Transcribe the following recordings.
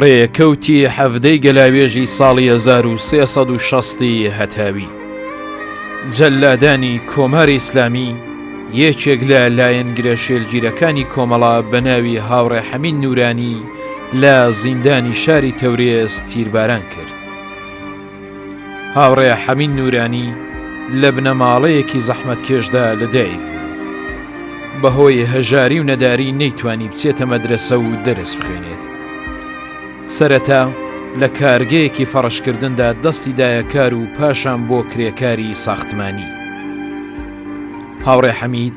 ڕێکەوتی حەڤدەی گەلاوێژی ساڵی هەزار و سێ سەد و شەستی هەتاوی جەلادانی کۆماری ئیسلامی یەکێک لە لایەنگرە شێلگیرەکانی کۆمەڵە بە ناوی هاوڕێ حەمید نورانی لە زیندانی شاری تەورێز تیرباران کرد. هاوڕێ حەمین نورانی لە بنەماڵەیەکی زەحمەتکێشدا لە دایک بوو بەهۆی هەژاری و نەداری نەیتوانی بچێتە مەدرسە و دەرس بخوێنێت سەرەتا لە کارگەیەکی فەڕشکردندا دەستی دایەکار و پاشان بۆ کرێکاری ساختمانی هاوڕێ حەمید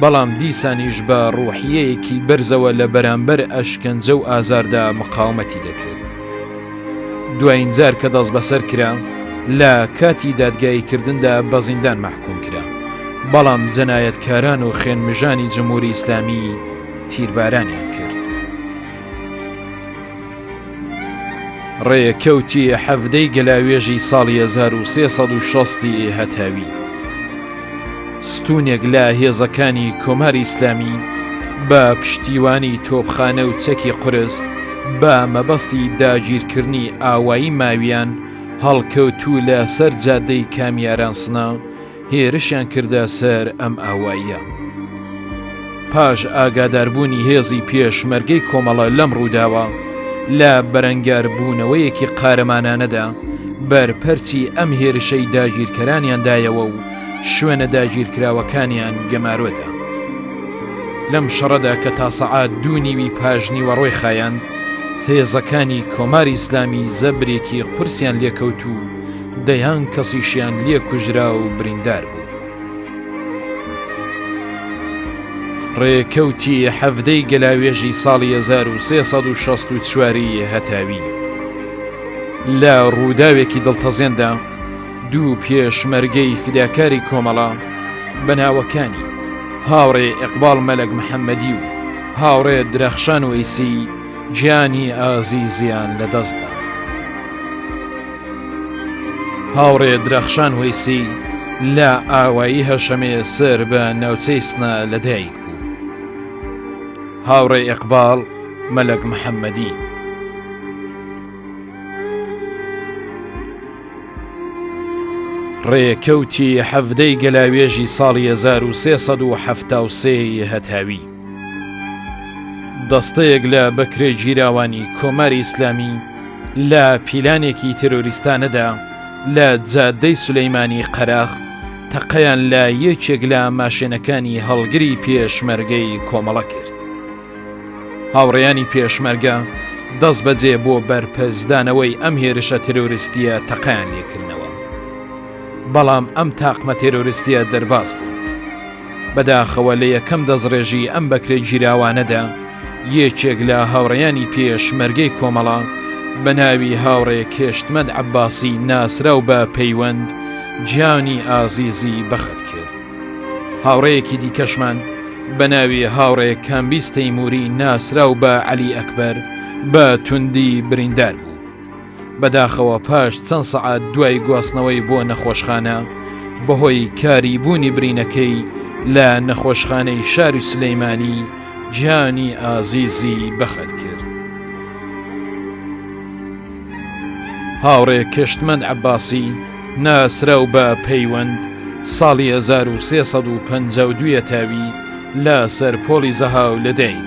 بەڵام دیسانیش بە ڕوحیەیەکی بەرزەوە لە بەرامبەر ئەشکەنجە و ئازاردا مقاومەتی دەکرد. دواین جار کە دەست بەسەر کرا لە کاتی دادگایی کردندا بە زیندان مەحکوم کرا، بەڵام جەنایەتکاران و خوێنمژانی جمهوری ئیسلامی تیربارانیان کرد. ڕێکەوتی حەڤدەی گەلاوێژی ساڵی هەزار و سێ سەد و شەستی ئێ هەتاوی ستونێک لە هێزەکانی کۆماری ئیسلامی بە پشتیوانی تۆپخانە و چەکی قورس بە مەبەستی داگیرکردنی ئاوایی ماویان هەڵکەوتوو لە سەر جادەی کامیاران سنە هێرشیان کردە سەر ئەم ئاواییە. پاش ئاگاداربوونی هێزی پێشمەرگەی کۆمەڵە لەم ڕووداوە، لە بەرەنگاربوونەوەیەکی قارەمانانەدا بەرپەرچی ئەم هێرشەی داگیرکەرانیان دایەوە و شوێنە داگیرکراوەکانیان گەمارۆدا. لەم شەڕەدا کە تا سەعات دوو نیوی پاشنیوەڕۆی خایاند، هێزەکانی کۆماری ئیسلامی زەبرێکی قورسیان لێکەوت و، دەیان کەسیشیان لێ کوژرا و بریندار بوو. ڕێکەوتی حەڤدەی گەلاوێژی ساڵی هەزار و سێ سەد و شەست و چواری هەتاوی لە ڕووداوێکی دڵتەزێندا دوو پێشمەرگەی فیداکاری کۆمەڵە بە ناوەکانی هاوڕێ ئێقباڵ مەلەک محەممەدی و هاوڕێ درەخشان وەیسی گیانی ئازیزیان لەدەستدا. هاوڕێ درەخشان وەیسی لە ئاوایی هەشەمێ سەر بە ناوچەی سنە لەدایک بوو. هاوڕێ ئەقباڵ مەلەک محەممەدی. ڕێکەوتی حەڤدەی گەلاوێژی ساڵی 1370 هەتاوی. دەستەیەک لە بەکرێگیراوانی کۆماری ئیسلامی لە پیلانێکی ترۆریستانەدا لە جادەی سولەیمانی قەراخ تەقەیان لە یەکێک لە ماشێنەکانی هەڵگری پێشمەرگەی کۆمەڵە کرد هاوڕێیانی پێشمەرگە دەست بەجێ بۆ بەرپەرزدانەوەی ئەم هێرشە ترۆریستیە تەقیان لێکردنەوە بەڵام ئەم تاقمە تێرۆریستیە دەرباز بوو بەداخەوە لە یەکەم دەستڕێژی ئەم بەکرێگیراوانەدا یەکێک لە هاوڕێیانی پێش مەرگەی کۆمەڵە بە ناوی هاوڕێ کێشتمەند عەباسی ناسراو بە پەیوەند گیانی ئازیزی بەخت کرد. هاوڕێیەکی دیکەشمان بە ناوی هاوڕێ کامبیز تەیمووری ناسراو بە عەلی ئەکبەر بە توندی بریندار بوو. بەداخەوە پاش چەند سەعات دوای گواستنەوەی بۆ نەخۆشخانە بەهۆی کاری بوونی برینەکەی لە نەخۆشخانەی شاری سلەیمانی گیانی ئازیزی بەخت کرد. هاوڕێ کشتمەند عباسی ناسراو بە پەیوەند ساڵی 1352 تاوی لە سەر پۆڵی زەهاو لەدایک.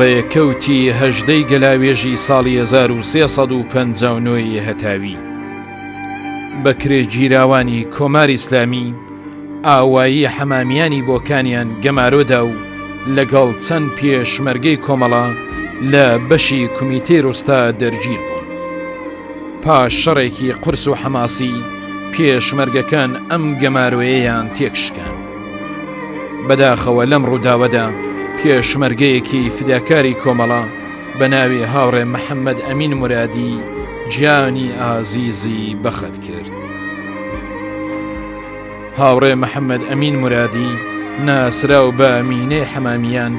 ڕێکەوتی هەژدەی گەلاوێژی ساڵی 1950ی هەتاوی بەکرێگیراوانی کۆماری ئسلامی ئاوایی حەمامیانی بۆکانیان گەمارۆدا و لەگەڵ چەند پێشمەرگەی کۆمەڵە لە بەشی کومیتەی ڕوستا دەرگیر بوون پاش شەڕێکی قرس و حەماسی پێشمەرگەکان ئەم گەمارۆیەیان تێکشکان بەداخەوە لەم ڕووداوەدا پێشمەرگەیەکی فداکاری کۆمەڵە بە ناوی هاوڕێ محەممەد ئەمین مرادی جیانی ئازیزی بەخت کرد. هاوڕێ محەممەد ئەمین مرادی ناسراو بە مینەی حەمامیان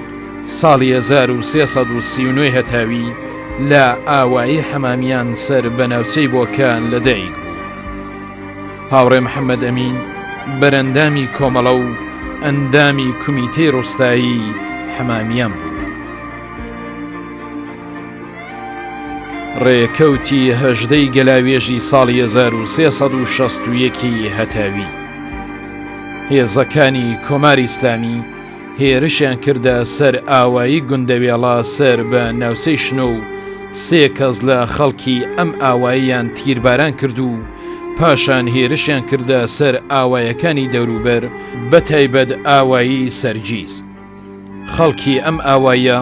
ساڵی 1939 هەتاوی لە ئاوایی حەمامیان سەر بە ناوچەی بۆکان لە دایک بوو هاوڕێ محەممەد ئەمین بەرەندامی کۆمەڵە و ئەندامی کومیتەی ڕوستایی حەمامیان بوو ڕێکەوتی هەژدەی گەلاوێژی ساڵی 1361ی هەتاوی هێزەکانی کۆماری ئیسلامی هێرشیان کردە سەر ئاوایی گوندەوێڵە سەر بە ناوچەی شنۆ و سێ کەس لە خەڵکی ئەم ئاواییان تیرباران کرد و پاشان هێرشیان کردە سەر ئاوایەکانی دەوروبەر بە تایبەت ئاوایی سەرجیز. خەڵکی ئەم ئاواییە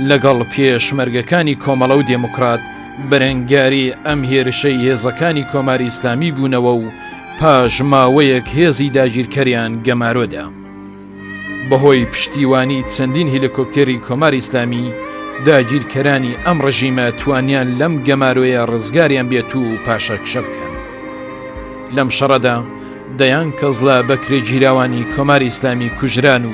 لەگەڵ پێشمەرگەکانی کۆمەڵە و دێموکرات بەرەنگاری ئەم هێرشەی هێزەکانی کۆماری ئیسلامی بوونەوە و پاش ماوەیەک هێزی داگیرکەریان گەمارۆدا. بەهۆی پشتیوانی چەندین هیلکۆپتێری کۆماری ئیسلامی داگیرکەرانی ئەم ڕژیمە توانیان لەم گەمارۆیە ڕزگاریان بێت و پاشەکشە بکەن. لەم شەڕەدا دەیان کەس لە بەکرێگیراوانی کۆماری ئیسلامی کوژران و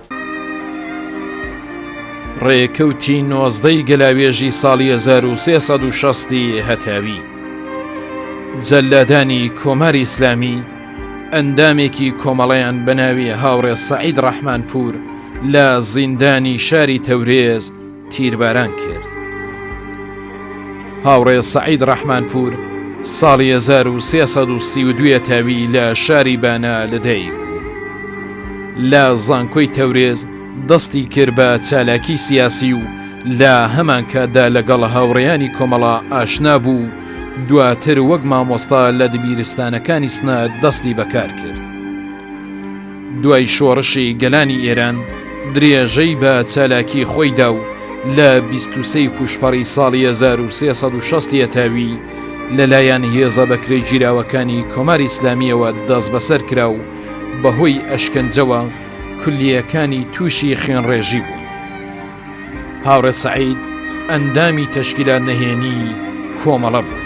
ڕێکەوتی نۆزدە ی گەلاوێژی ساڵی هەزار و سێ سەد و شەست ی هەتاوی جەلادانی کۆماری ئیسلامی ئەندامێکی کۆمەڵەیان بە ناوی هاوڕێ سەعید ڕەحمانپوور لە زیندانی شاری تەورێز تیرباران کرد. هاوڕێ سەعید ڕەحمانپوور ساڵی هەزار و سێ سەد و سی و دوو یەتاوی لە شاری بانە لەدایک بوو. لە زانکۆی تەورێز دەستی کرد بە چالاکی سیاسی و لە هەمانکاتدا لەگەڵ هاوڕێیانی کۆمەڵە ئاشنا بوو و دواتر وەک مامۆستا لە دبیرستانەکانی سنە دەستی بەکار کرد. دوای شۆڕشی گەلانی ئێران درێژەی بە چالاکی خۆی دا و لە بیست و سێی پووشپەڕی ساڵی هەزار و سێ سەد و شەست یەتاوی لە لایەن هێزە بەکرێگیراوەکانی کۆماری ئیسلامییەوە دەسبەسەر کرا و بە هۆی ئەشکەنجەوە کولییەکانی تووشی خوێنڕێژی بوو. هاوڕێ سەعید ئەندامی تەشکیلات نەهێنیی کۆمەڵە بوو.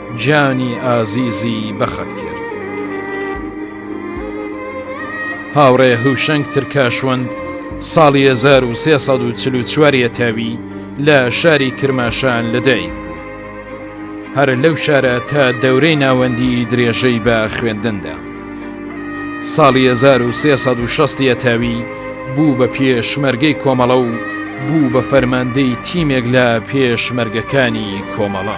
گیانی ئازیزی بەخت کرد. هاوڕێ هوشەنگ ترکاشوەند ساڵی 1344 یەتاوی لە شاری کرماشان لەدایک بوو هەر لەو شارە تا دەورەی ناوەندی درێژەی بە خوێندندا ساڵی 1360 یەتاوی بوو بە پێشمەرگەی کۆمەڵە و بوو بە فەرماندەی تیمێک لە پێشمەرگەکانی کۆمەڵە.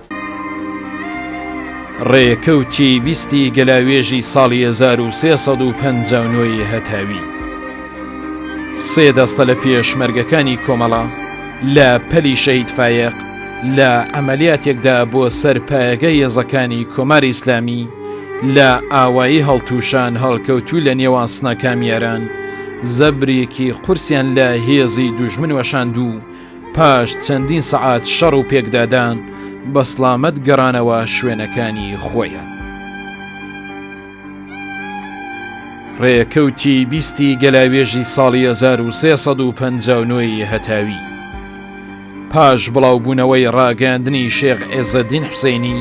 ڕێکەوتی بیستی گەلاوێژی ساڵی 1359 ی هەتاوی سێ دەستە لە پێشمەرگەکانی کۆمەڵە لە پەلی شەید فایەق لە ئەمەلیاتێکدا بۆ سەر پایەگە یەزەکانی کۆمار ئیسلامی لە ئاوایی هەڵتوشان هەڵکەوتو لە نێوان سنە کامیاران زەبرێکی قورسیان لە هێزی دوژمن وەشاندوو پاش چەندین سەعات شەڕ و پێکدادان بە سڵامەت گەڕانەوە شوێنەکانی خۆیان. ڕێکەوتی بیستی گەلاوێژی ساڵی 1350ی هەتاوی پاش بڵاوبوونەوەی ڕاگەاندنی شێخ ئێزەدین حسینی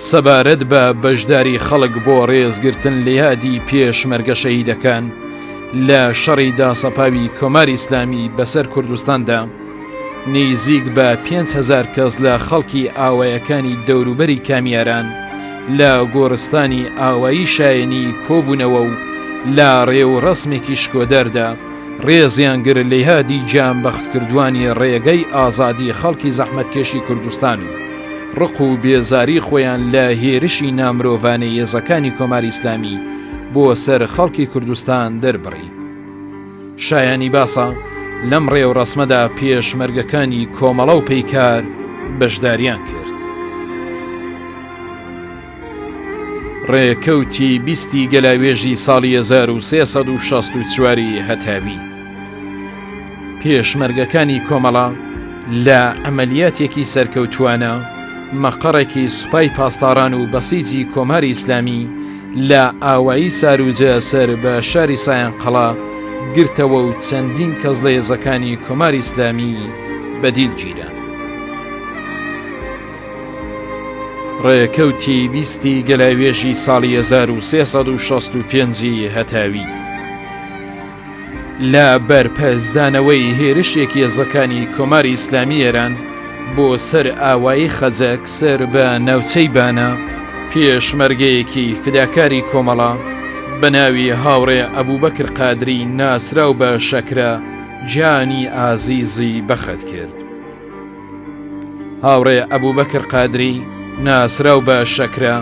سەبارەت بە بەشداری خەڵک بۆ ڕێزگرتن لە یادی پێشمەرگە شەهیدەکان لە شەڕی داسەپاوی کۆماری ئیسلامی بەسەر کوردستاندا، نیزیک بە پێنج هەزار کەس لە خەڵکی ئاوایەکانی دەوروبەری کامیاران لە گۆڕستانی ئاوایی شایەنی کۆبوونەوە و لە ڕێ و ڕەسمێکی شکۆداردا ڕێزیان گرت لە یادی گیانبەختکردووانی ڕێگەی ئازادی خەڵکی زەحمەتکێشی کوردستان و ڕق و بێزاری خۆیان لە هێرشی نامرۆڤانەی هێزەکانی کۆماری ئیسلامی بۆ سەر خەڵکی کوردستان دەربڕی شایانی باسە لەم ڕێوڕسمەدا پێشمەرگەکانی کۆمەڵە و پەیکار بەشداریان کرد ڕێکەوتی بیستی گەلاوێژی ساڵی 1964 هەتاوی پێشمەرگەکانی کۆمەڵە لە ئەمەلیاتێکی سەرکەوتوانە مەقەڕێکی سوپای پاسداران و بەسیجی کۆماری ئیسلامی لە ئاوایی ساروجە سەر بە شاری سایان قەڵا گرتەوە و چەندین کەس لە هێزەکانی کۆماری ئیسلامی بەدیل گیرە. ڕێکەوتی بیستی گەلاوێژی ساڵی 1965 هەتاوی. لە بەرپەرچدانەوەی هێرشێک یێزەکانی کۆماری ئیسلامی ئێران بۆ سەر ئاوایی خەجەک سەر بە ناوچەی بانە، پێشمەرگەیەکی فداکاری کۆمەڵە بە ناوی هاوڕێ ئەبوبەکر قادری ناسراو بە شەکرە گیانی ئازیزی بەخت کرد. هاوڕێ ئەبوبەکر قادری ناسراو بە شەکرە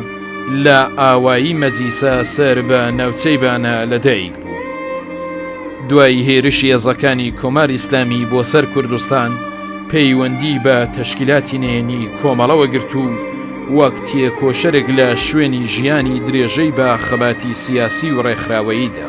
لە ئاوایی مەجیسە سەر بە ناوچەی بانە لە دایک بوو دوای هێرش هێزەکانی کۆمار ئیسلامی بۆ سەر کوردستان پەیوەندی بە تەشکیلاتی نێنی کۆمەڵەوە گرت و وەک تێکۆشەرێک لە شوێنی ژیانی درێژەی بە خەباتی سیاسی و ڕێکخراوەییدا.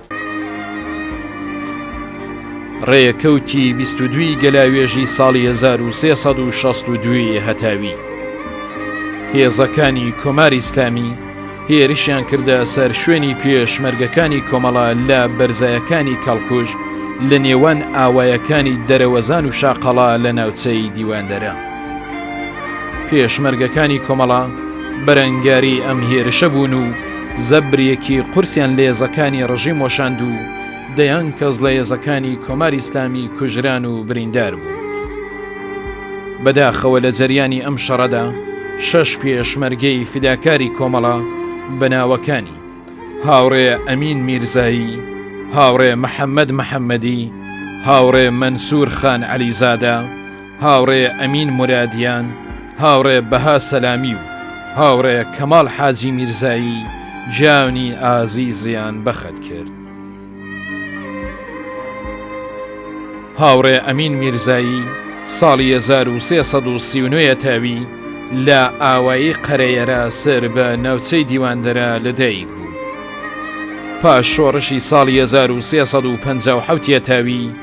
ڕێکەوتی بیست و دووی گەلاوێژی ساڵی 1362 هەتاوی هێزەکانی کۆماری ئیسلامی هێرشیان کردە سەر شوێنی پێشمەرگەکانی کۆمەڵە لە بەرزایەکانی کەڵکوژ لە نێوان ئاوایەکانی دەرەوەزان و شاقەڵا لە ناوچەی دیواندەرە. پێشمەرگەکانی کۆمەڵە بەرەنگاری ئەم هێرشە بوون و زەبرێکی قورسیان لە یێزەکانی ڕژیم وەشاند و دەیان کەس لە یێزەکانی کۆماری ئیسلامی کوژران و بریندار بوو بەداخەوە لە جەریانی ئەم شەڕەدا شەش پێشمەرگەی فیداکاری کۆمەڵە بە ناوەکانی هاوڕێ ئەمین میرزایی هاوڕێ محەممەد محەممەدی هاوڕێ مەنسوور خان عەلیزادە هاوڕێ ئەمین مورادیان، هاوڕێ بەها سەلامی و هاوڕێ کەماڵ حاجی میرزایی جانی ئازیزیان بەخت کرد. هاوڕێ ئەمین میرزایی ساڵی 1339 تاوی لە ئاوایی قەرەیەرا سەر بە ناوچەی دیواندەرە لەدایک بوو. پاش شۆڕشی ساڵی 1350 تاوی،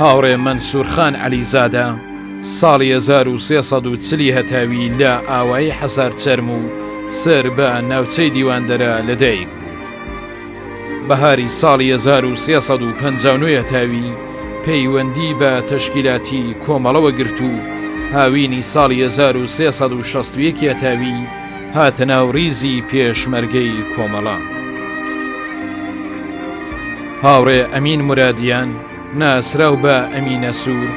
هاوڕێ مەنسوور خان عەلیزادە ساڵی هەزار و سێ سەد و چل ی هەتاوی لە ئاوایی حەسارچەرم و سەر بە ناوچەی دیواندەرە لەدایک بوو. بەهاری ساڵی هەزار و سێ سەد و پەنجا و نۆ هەتاوی پەیوەندی بە تەشکیلاتی کۆمەڵەوە گرت و هاوینی ساڵی هەزار و سێ سەد و شەست و یەک هەتاوی هاتە ناو ریزی پێشمەرگەی کۆمەڵە. هاوڕێ ئەمین مرادیان ناسراو بە ئەمینە سوور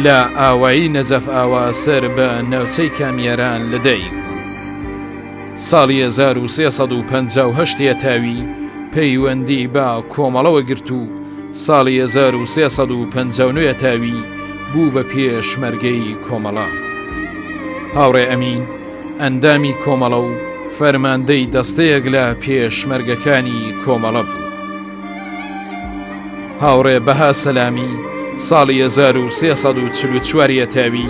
لە ئاوایی نەجەف ئاوا سەر بە ناوچەی کامیاران لە دایک ساڵی 1350 تاوی پەیوەندی بە کۆمەڵەوە گرت و ساڵی 1350 تاوی بوو بە پێشمەرگەی کۆمەڵە هاوڕێ ئەمین ئەندامی کۆمەڵە و فەرماندەی دەستەیەک لە پێشمەرگەکانی کۆمەڵە بوو. هاوڕێ بەها سەلامی ساڵی 1940 یەتاوی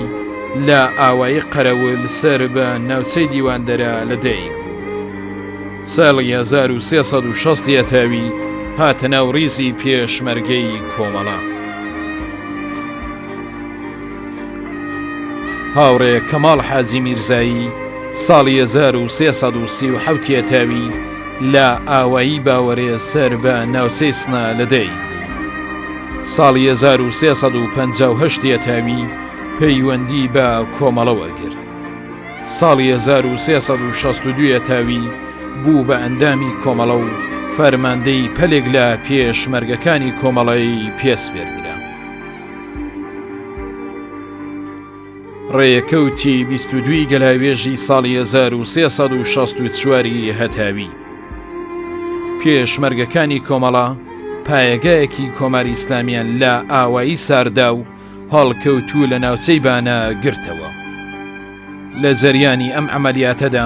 لە ئاوایی قەرەول سەر بە ناوچەی دیواندەرە لە دایک بوو. ساڵی 1960 یەتاوی هاتە ناو ڕیزی پێشمەرگەی کۆمەڵە. هاوڕێ کەماڵ حاجی میرزایی ساڵی 1337 یەتاوی لە ئاوایی باوەرێ سەر بە ناوچەی سنا لە دەی ساڵی 1350 یەتاوی پەیوەندی بە کۆمەڵە وەرگرت ساڵی 1362 یەتاوی بوو بە ئەندامی کۆمەڵە و فەرماندەی پەلێک لە پێشمەرگەکانی کۆمەڵەی پێسپێردرا ڕێکەوتی بیست و دووی گەلاوێژی ساڵی 1364 ی هەتاوی پێشمەرگەکانی کۆمەڵە پایەگایەکی کۆماری ئیسلامیان لە ئاوایی ساردا و هەڵکەوتوو لە ناوچەی بانە گرتەوە لە جەریانی ئەم ئەمەلیاتەدا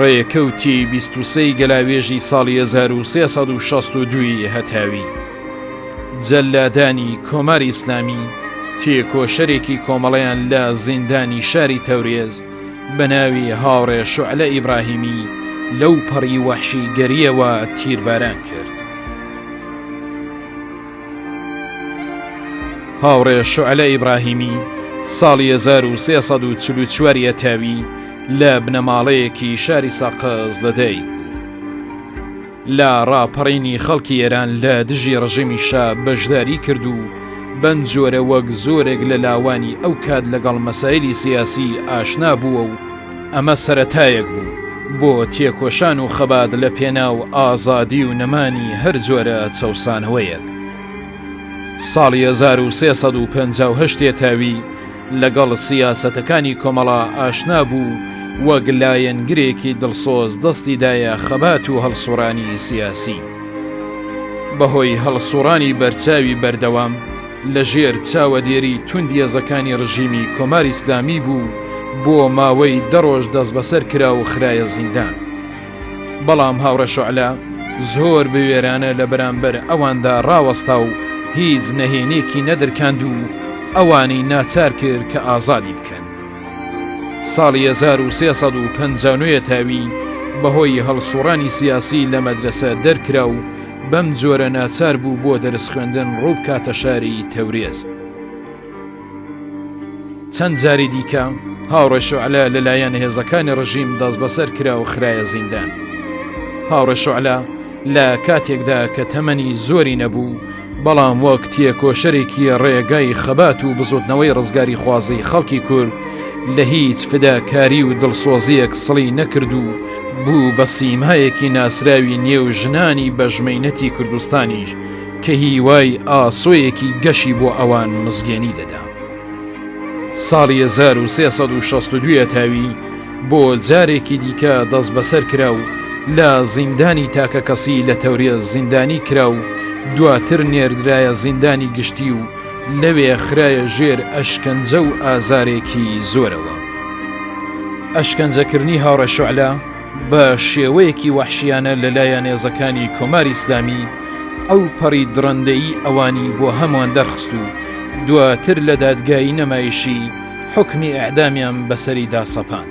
ڕێکەوتی بیست و سێی گەلاوێژی ساڵی 1962ی هەتاوی جەلادانی کۆماری ئیسلامی تێکۆشەرێکی کۆمەڵیان لە زیندانی شاری تەورێز بە ناوی هاوڕێ شعلە ئیبراهیمی لەو پەڕی وەحشی گەریەوە تیرباران کرد. هاوڕێ شعلە ئیبراهیمی ساڵی 1344 ە تاوی لە بنەماڵەیەکی شاری ساقز لەدەی لە ڕاپەڕینی خەڵکی ئێران لە دژی ڕژێمی شا بەشداری کرد و بەم جۆرە وەک زۆرێک لە لاوانی ئەو کات لەگەڵ مەسایلی سیاسی ئاشنا بووە و ئەمە سەرەتایەک بوو بۆ تێکۆشان و خەبات لە پێناو ئازادی و نەمانی هەر جۆرە چەوسانەوەیەک. ساڵی 1358 تێتاوی لەگەڵ سیاسەتەکانی کۆمەڵە ئاشنا بوو وەک لایەنگرێکی دڵسۆز دەستی دایە خەبات و هەڵسوڕانی سیاسی. بەهۆی هەڵسوڕانی بەرچاوی بەردەوام، لە ژێر چاوەدێری توندی هێزەکانی ڕژیمی کۆماری ئیسلامی بوو بۆ ماوەی دە ڕۆژ دەستبەسەر کرا و خرایە زیندان بەڵام هاوڕێ شعلە زۆر بوێرانە لە بەرامبەر ئەواندا ڕاوەستا و هیچ نەهێنێکی نەدرکاند و ئەوانی ناچار کرد کە ئازادی بکەن ساڵی 1350 تاوی بەهۆی هەڵسوڕانی سیاسی لە مەدرسە دەرکرا و بەم جۆرە ناچار بوو بۆ دەرس خوێندن ڕوو بکاتە شاری تەورێز. چەند جاری دیکە هاوڕێشعلە لەلایەن هێزەکانی ڕژیم دەست بەسەر کرا و خراە زیندان. هاوڕێشعلە لە کاتێکدا کە تەمەنی زۆری نەبوو، بەڵام وەک تێکۆشەرێکی ڕێگای خەبات و بزوتنەوەی ڕزگاری خوازی خەڵکی کورد لە هیچ فداکاری و دڵسۆزیەک سڵی نەکرد و بوو بە سیمایەکی ناسراوی نێو ژنانی بەژمەینەتی کوردستانیش کە هیوای ئاسۆیەکی گەشی بۆ ئەوان مزگێنی دەدا. ساڵی 1362 تاوی بۆ جارێکی دیکە دەست بەسەر کرا و لە زیندانی تاکە کەسی لە تەورێ زیندانی کرا و دواتر نێردرایە زیندانی گشتی و لەوێ خرایە ژێر ئەشکەنجە و ئازارێکی زۆرەوە. ئەشکەنجەکردنی هاوڕێ شعلە بە شێوەیەکی وەحشیانە لە لایە نێزەکانی کۆماری ئیسلامی ئەو پەڕی دڕندەیی ئەوانی بۆ هەمووان دەرخست و دواتر لە دادگایی نەمایشی حوکمی ئیعدامیان بەسەریدا سەپاند.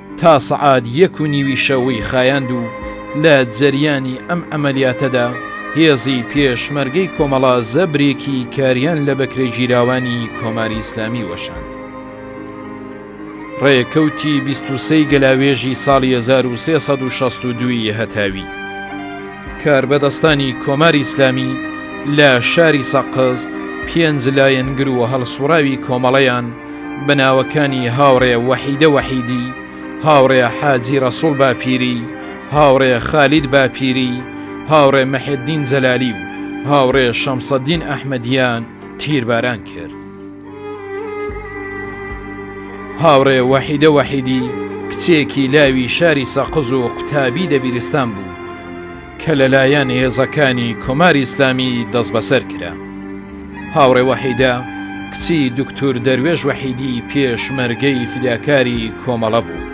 تا سەعات یەک و نیوی شەوی خایاند و لە جەریانی ئەم عەمەلیاتەدا هێزی پێشمەرگەی کۆمەڵە زەبرێکی کاریان لە بەکرێگیراوانی کۆماری ئیسلامی وەشاند. ڕێکەوتی 23 ی گەلاوێژی ساڵی 1362 ی هەتاوی کاربەدەستانی کۆماری ئیسلامی لە شاری سەقز پێنج لایەنگر و هەڵسوڕاوی کۆمەڵەیان بە ناوەکانی هاوڕێ وەحیدە وەحیدی، هاوڕێ حاجی ڕەسوڵ باپیری، هاوڕێ خالید باپیری، هاوڕێ محێدین جەلالی و هاوڕێ شەمسەدین ئەحمەدیان تیرباران کرد. هاوڕێ وەحیدە وەحیدی کچێکی لاوی شاری سەقز و قوتابی دەبیرستان بوو، کە لەلایەن هێزەکانی کۆماری ئیسلامی دەستبەسەر کرا. هاوڕێ وەحیدە کچی دوکتور دەروێش وەحیدی پێشمەرگەی فیداکاری کۆمەڵە بوو.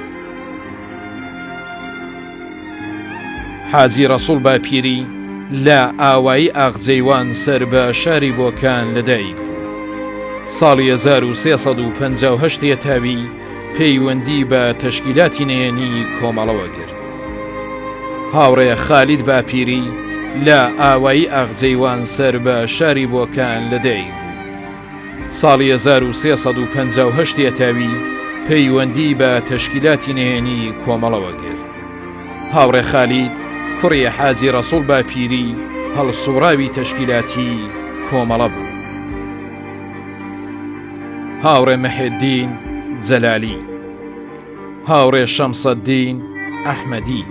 حاجی ڕەسوڵ باپیری لە ئاوایی ئاغجەیوان سەر بە شاری بۆکان لەدایک بوو. ساڵی 1358 یەتاوی پەیوەندی بە تەشکیلاتی نەیەنی کۆمەڵەوە گرت. هاوڕێ خالید باپیری لە ئاوایی ئاغجەیوان سەر بە شاری بۆکان لە دایک بوو. ساڵی 1358 یەتاوی پەیوەندی بە تەشکیلاتی نەیەنی کۆمەڵەوە گرت. هاوڕێ خالید کوڕی حاجی ڕەسوڵ باپیری هەڵسوڕاوی تەشکیلاتی کۆمەڵە بوو. هاوڕێ مەهێدین جەلالی هاوڕێ شەمسەدین ئەحمەدی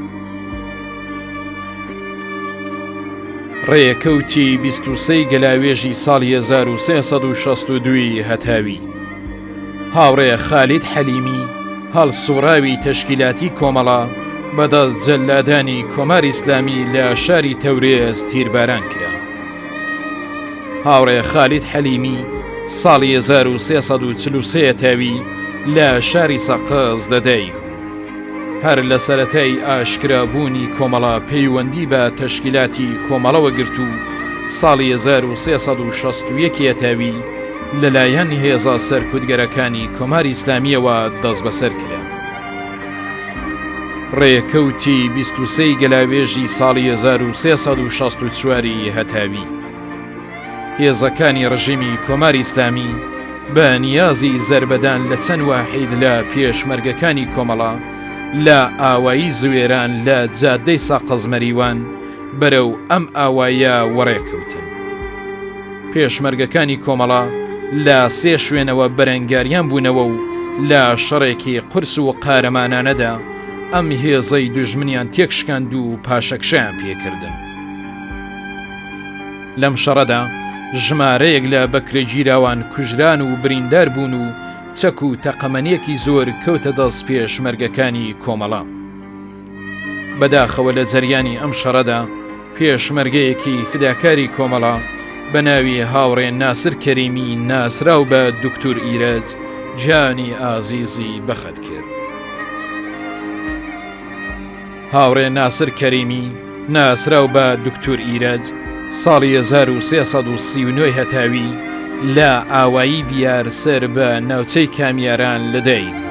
ڕێکەوتی بیستوسەی گەلاوێژی ساڵی 1962 هەتاوی هاوڕێ خالید حەلیمی هەڵسوڕاوی تەشکیلاتی کۆمەڵە بەدەست جەلادانی کۆماری ئیسلامی لە شاری تەورێز تیرباران کرا هاوڕێ خالید حەلیمی ساڵی 1940 تاوی لە شاری سەقز لەدەی هەر لە سەتای ئاشکرابوونی کۆمەڵە پەیوەندی بە تەشکیلاتی کۆمەڵەوە گرت و ساڵی 1960 تاوی لەلایەن هێزا سەرکوتگەرەکانی کۆماری ئسلامیەوە دەست بەسەر کرا. ڕێکەوتی بیست و سێی گەلاوێژی ساڵی هەزار و سێ سەد و شەست و چواری هەتاوی هێزەکانی ڕژێمی کۆماری ئیسلامی بە نیازی زەربەدان لە چەند واحید لە پێشمەرگەکانی کۆمەڵە لە ئاوایی زوێران لە جادەی ساقەزمەریوان بەرەو ئەم ئاوایە وەڕێ کەوتن. پێشمەرگەکانی کۆمەڵە لە سێ شوێنەوە بەرەنگاریان بوونەوە و لە شەڕێکی قورس و قارەمانانەدا ئەم هێزەی دوژمنیان تێکشکاند و پاشەکشەیان پێکردن. لەم شەڕەدا ژمارەیەک لە بەکرێگیراوان کوژران و بریندار بوون و چەک و تەقەمەنیەکی زۆر کەوتە دەست پێشمەرگەکانی کۆمەڵە. بەداخەوە لە جەریانی ئەم شەڕەدا پێشمەرگەیەکی فداکاری کۆمەڵە بە ناوی هاوڕێ ناسر کەریمی ناسرااو بە دکتور ئیرەج جانی ئازیزی بەخت کرد. هاوڕێ ناسر کەریمی ناسرااو بە دکتور ئیرەج ساڵی 1939 هەتاوی لە ئاوایی بیار سەر بە ناوچەی کامیاران لەدایک بوو.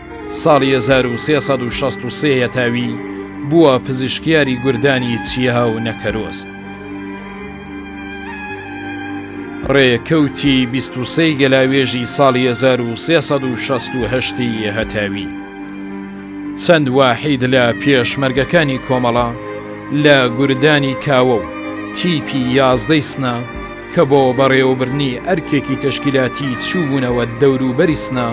ساڵی هەزار و سێ سەد و شەست و سێ یەتاوی بووە پزیشکیاری گوردانی چیا و نەکەرۆز. ڕێکەوتی بیست و سێی گەلاوێژی ساڵی هەزار و سێ سەد و شەست و هەشتی هەتاوی. چەند واحید لە پێشمەرگەکانی کۆمەڵە لە گوردانی کاوە و تیپی یازدەی سنە، کە بۆ بەڕێوەبردنی ئەرکێکی تەشکیلاتی چووبوونەوە دەوروبەری سنە،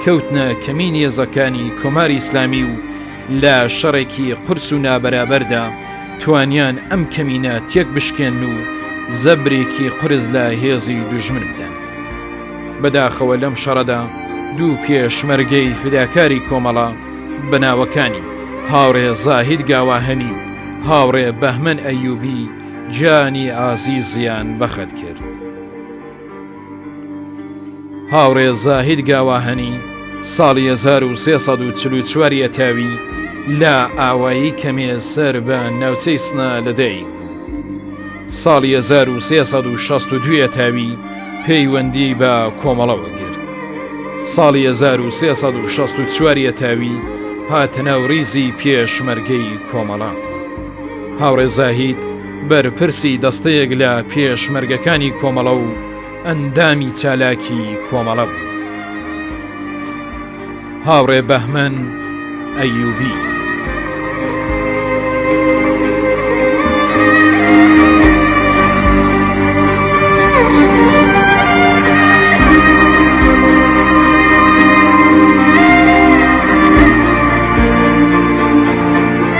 کەوتنە کەمینی هێزەکانی کۆماری ئیسلامی و لە شەڕێکی قورس و نابەرابەردا توانیان ئەم کەمینە تێکبشکێنن و زەبرێکی قورس لە هێزی دوژمن بدەن. بەداخەوە لەم شەڕەدا دوو پێشمەرگەی فیداکاری کۆمەڵە بە ناوەکانی، هاوڕێ زاهید گاواهەنی و هاوڕێ بەهمەن ئەیوبی، گیانی ئازیزیان بەخت کرد. هاوڕێ زاهید گاواهەنی ساڵی 1344 یەتاوی لە ئاوایی کەمێ سەر بە ناوچەی سنا لەدایک بوو. ساڵی 1362 تاوی پەیوەندی بە کۆمەڵەوە گرت. ساڵی 1364 تاوی هاتە ناو ریزی پێشمەرگەی کۆمەڵە. هاوڕێ زاهید بەرپرسی دەستەیەک لە پێشمەرگەکانی کۆمەڵە و ئەندامی چالاکی کۆمەڵە بوو هاوڕێ بەهمەن ئەیوبی.